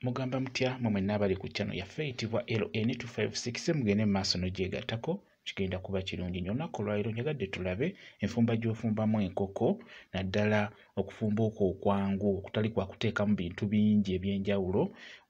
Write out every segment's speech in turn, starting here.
mugamba mutya mwe mwenna abali ku channel yaffe eyitibwa LN256 mugende mu maaso n'ogyegattako kigenda kuba kirungi nnyo olunaku olwaliro njagadde tulabe enfumba gy'ofumbamu enkoko naddala okufumba okwo okwangu okutali kwa kuteekamu bintu bingi eby'enjawulo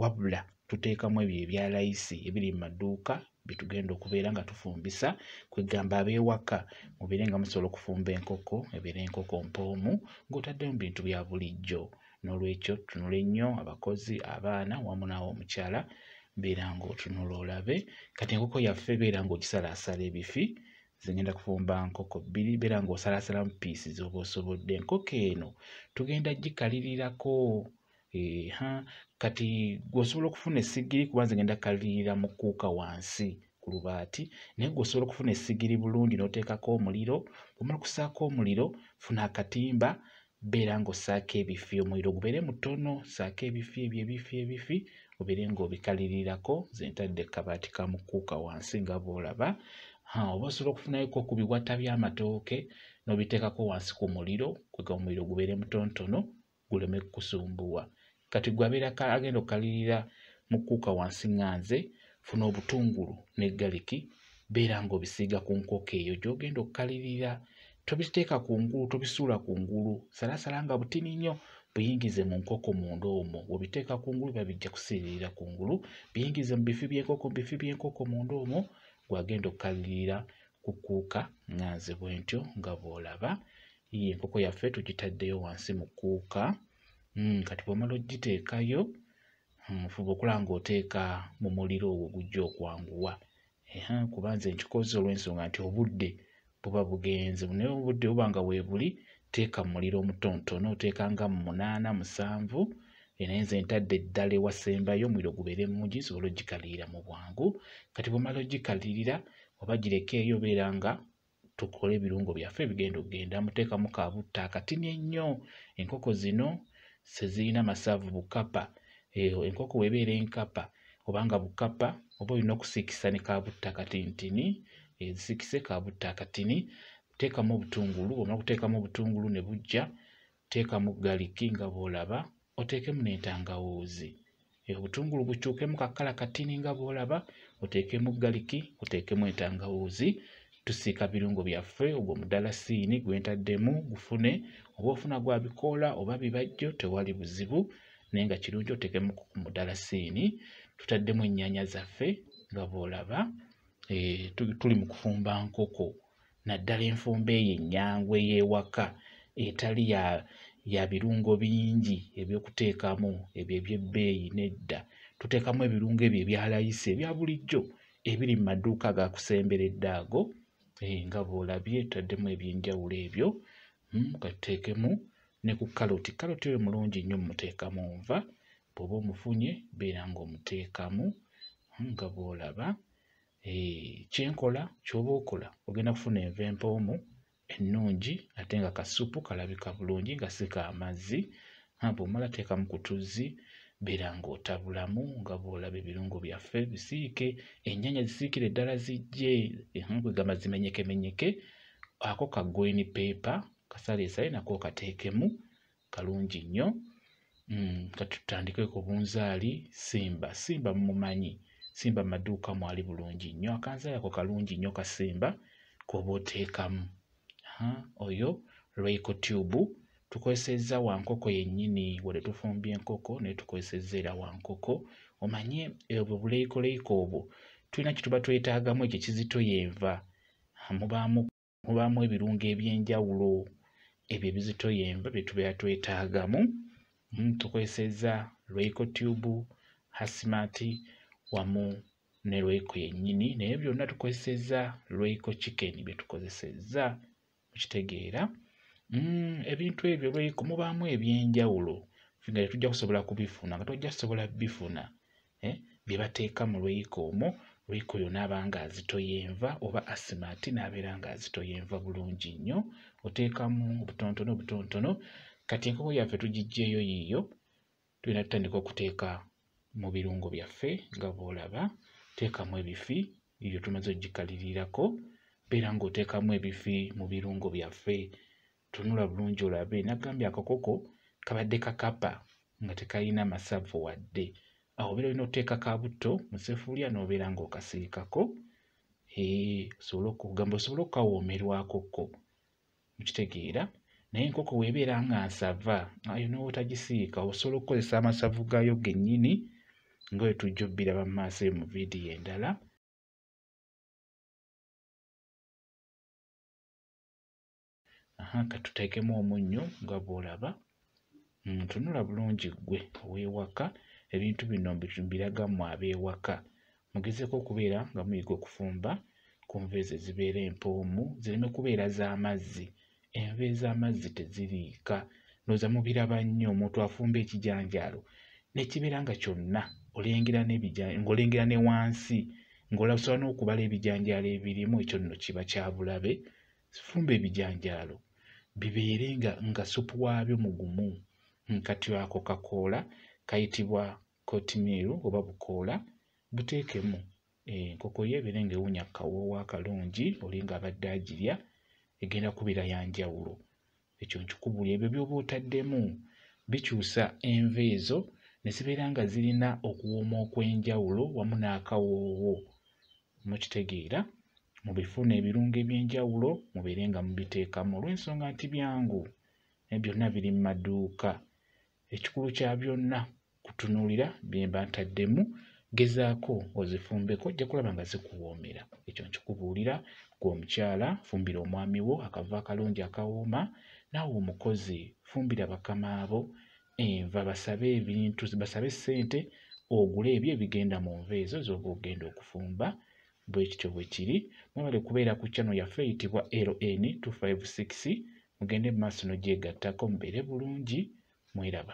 wabula tuteekamu ebyo ebya layisi ebiri mu maduuka byetugenda okubeera nga tufumbisa kwegamba abewaka mubeere nga musobola okufumba enkoko ebeera enkoko mpoomu ng'otaddemu bintu bya bulijjo N'olwekyo tunule nnyo abakozi, abaana wamu naawe omukyala beera ng'otunula olabe. Kati enkoko yaffe beera ng'ogisalaasala ebifi, nze ngenda kufumba nkoko bbiri, beera ng'osalaasalamu piisi z'oba osobodde. Enkoko eno tugenda gikalirirako eha kati gwosobola okufuna essigiri kuba nze ngenda kalirira mu kuuka wansi ku lubaati naye gwosobola okufuna essigiri bulungi n'oteekako omuliro omala okusaako omuliro funa akatimba beera ng'ossaako ebifi omuliro gubeere mutono ssaako ebifi ebyo ebifi ebifi obeere ng'obikalirirako nze ntadde kabaati ka mukuuka wansi nga bw'olaba oba osobola okufunayoko ku biwata by'amatooke n'obiteekako wansi ku muliro kwega omuliro gubeere mutontono guleme kukusumbuwa kati gwe abeera agenda okukalirira mu kuuka wansi nga nze funa obutungulu ne galiki beera ng'obisiiga ku nkoko eyo gy'ogenda okukalirira tobiteeka ku ngulu tobisuula ku ngulu salasala nga butini nnyo buyingize mu nkoko munda omwo bwobiteeka ku ngulu biba bijja kusiiririra ku ngulu biyingize mu bifi by'enkoko mu bifi by'enkoko munda omwo gwagenda okukalirira kukuuka nga nze bwentyo nga bw'olaba ye enkoko yaffe tugitaddeyo wansi mu kuuka Hmm, kati bw'omala ogiteekayo hmm, fuba okulaba ng'oteeka mu muliro ogwo gujja okwanguwa kuba nze nkikoze olw'ensonga nti obudde buba bugenze naye obudde buba nga weebuli teeka mu muliro omutonotono oteeka nga mu munaana musanvu naye nze ntadde eddala ewasembayo omuliro gubeere mungi nsobole ogikalirira mu bwangu kati bw'omala ogikalirira oba girekeeyo obeera nga tukole ebirungo byaffe bigenda okugenda muteekamu ka butta akatini ennyo enkoko zino sezirina masavu bukapa eyo enkoko webeera enkapa obanga bukapa oba olina okusiikisa ne kabutta akatintini ezisikise kabutta akatini teekamu obutungulu omala okuteekamu obutungulu ne bujja teekamu galiki nga bw'olaba oteekemu n'entangawuuzi obutungulu bukyukemu kakala katini nga bw'olaba oteekemu galiki oteekemu entangawuuzi tusiika birungo byaffe ogwo mudalasiini gwentaddemu gufune oba ofuna gwa bikoola oba bibajjo tewali buzibu naye nga kirungi oteekemu mudalasiini tutaddemu ennyanya zaffe nga bw'olaba eh, tuli mu kufumba nkoko naddala enfumba eyo ennyangu ey'ewaka etali ya ya birungo bingi eby'okuteekamu ebyo eby'ebbeeyi nedda tuteekamu ebirungo ebyo ebyalayisi ebya bulijjo ebiri mu maduuka agakusemberedde ago eh, nga bw'olabye taddemu eby'enjawulo ebyo hmm, katuteekemu ne ku kaloti kaloti oyo mulungi nnyo mumuteekamu nva bw'oba omufunye beera ng'omuteekamu hmm, nga bw'olaba Eh, kyenkola kyoba okola ogenda kufuna enva empoomu ennungi ate nga kasupu kalabika bulungi nga si ka mazzi bwomala teekamu ku tuzzi beera ng'otabulamu nga bw'olaba ebirungo byaffe bisiike ennyanya zisiikire ddala zijje kwegamba zimenyekemenyeke ako ka gwini peepa kasaleesale nako okateekemu kalungi nnyo mm, katutandike ku bunzaali simba simba mumumanyi simba maduuka mwali bulungi nnyo akanzaali ako kalungi nnyo kasimba koba oteekamu oyo lwaiko tube tukozesezza wankoko yennyini wade tufumbya enkoko naye tukozesezza era wankoko omanye ebwo buleikoleiko obwo tulina kyetuba twetaagamu ekyo kizito yenva mubaamu mubaamu ebirungo eby'enjawulo ebyo ebizitoya enva bye tubeera twetaagamu hmm, tukozesezza royco tube hasmat wamu ne royco yennyini naye byonna tukozesezza royco chicken bye tukozesezza mukitegeera hmm, ebintu ebyo royco mubaamu eby'enjawulo nga tetujja kusobola kubifuna nga tojja kusobola bifuna eh, bye bateeka mu lweyiko omwo lweyiko oyo naaba nga azitoya enva oba asima ati naabeera nga azitoya enva bulungi nnyo oteekamu obutontono obutontono kati enkoko yaffe tugiggyeeyo yiiyo tulina tutandika okuteeka mu birungo byaffe nga bw'olaba teekamu ebifi ebyo tumaze okugikalirirako beera ng'oteekamu ebifi mu birungo byaffe tunula bulungi olabe nagambye akakoko kabadde kakapa nga tekalina masavu wadde awo obeera olina oteeka ka butto mu sefuliya n'obeera ng'okasiikako osobole okugamba osobole okukawoomerwako ko mukitegeera naye enkoko weebeera nga nsava ayo n'otagisiika osobola okukozesa amasavu gaayo gennyini nga bwe tujja obbiraba mu maaso eyo mu vidiyo endala aha katuteekemu omunnyo nga bw'olaba mm, tunula bulungi ggwe ow'ewaka ebintu bino mbiraga mmwe ab'ewaka mugezeeko okubeera nga muyiga okufumba ku nva ezo ezibeera empoomu zireme kubeera z'amazzi enva ez'amazzi teziriika noza mubiraba nnyo omuntu afumba ekijanjaalo nekibeera nga kyonna olengera ng'olengera ne wansi ng'olasobola n'okubala ebijanjaalo ebirimu ekyo nno kiba kyabulabe fumba ebijanjaalo bibeere nga nga supu waabyo mugumu nkati ako kakoola kayitibwa kotimiiru oba bukoola buteekemu eh, enkoko yo ebeere nga ewunya kawoowo akalungi oli nga abadde agirya egenda kubeera ya njawulo ekyo nkikubuli ebyo byoba otaddemu bikyusa enva ezo ne zibeera nga zirina okuwooma okw'enjawulo wamu n'akawoowo mukitegeera mubifuna ebirungo eby'enjawulo mubeere nga mubiteekamu olw'ensonga nti byangu naye byonna biri mu maduuka ekikulu kya byonna kutunuulira bye mba ntaddemu gezaako ozifumbeko ojja kulaba nga zikuwoomera ekyo nkikubuulira gwe omukyala fumbira omwami wo akava akalungi akawooma naawe omukozi fumbira bakama bo enva basabe ebintu basabe ssente ogule ebyo ebigenda mu nva ezo z'oba ogenda okufumba bwe kityo bwe kiri mwebale kubeera ku channel yaffe eyitibwa ln 256 mugende mu maaso n'ogyegattako mubeere bulungi mweraba.